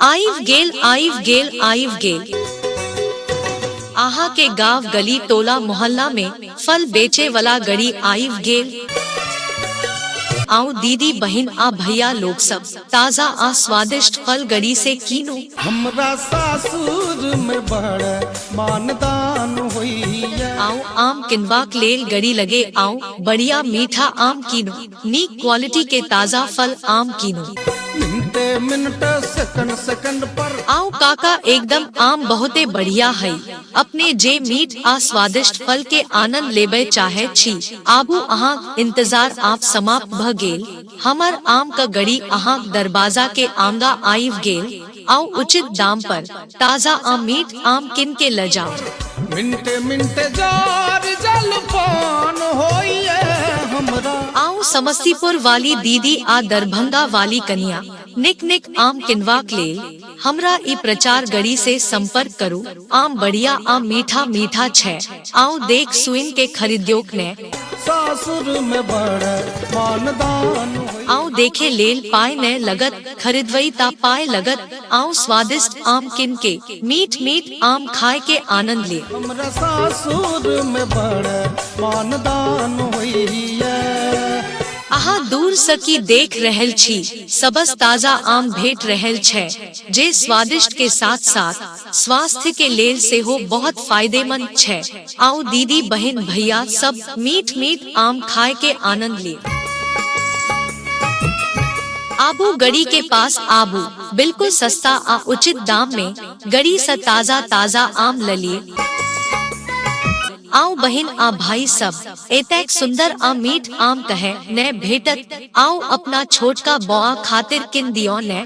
आइव गेल आइव गेल आइव गेल आहा के गांव गली टोला मोहल्ला में फल बेचे वाला गड़ी आइव गेल आओ दीदी बहन आ भैया लोग सब ताजा आ स्वादिष्ट फल गड़ी से कीनो हमरा सासुर में बड़ मानदान होइया आओ आम किनबाक लेल गड़ी लगे आओ बढ़िया मीठा आम कीनो नीक क्वालिटी के ताजा फल आम कीनू मिनटे मिनट सेकंड सेकंड पर आओ काका एकदम आम बहुते बढ़िया है अपने जे मीठ आ स्वादिष्ट फल के आनंद लेबे चाहे छी आबू अहाँ इंतजार आप समाप्त भ गेल हमर आम का गड़ी अहाँ दरवाजा के आंगा आइव गेल आओ उचित दाम पर ताजा आम मीठ आम किन के ले जाओ मिनटे मिनटे जार जलपान होइए हमरा आओ समस्तीपुर वाली दीदी आ दरभंगा वाली कन्या निक निक आम किनवा के लेल हमरा ई प्रचार गड़ी से संपर्क करू आम बढ़िया आम मीठा मीठा छै आउ देख सुइन के खरीद्योक ने सासुर में बड़ मानदान होई आउ देखे लेल पाय ने लगत खरीदवई ता पाय लगत आउ स्वादिष्ट आम किन के मीठ मीठ आम खाए के आनंद ले हमरा सासुर में बड़ मानदान होइए अहाँ दूर सकी देख रहल छी सबस ताजा आम भेट रहल छै जे स्वादिष्ट के साथ साथ स्वास्थ्य के लेल से हो बहुत फायदेमंद छै आओ दीदी बहन भैया सब मीठ मीठ आम खाए के आनंद लिए आबू गड़ी के पास आबू बिल्कुल सस्ता आ उचित दाम में गड़ी से ताजा ताजा आम ललिए आओ बहन आ भाई सब एतक सुंदर आ मीठ आम कहे न भेटत आओ अपना छोट का बौआ खातिर किन दियो न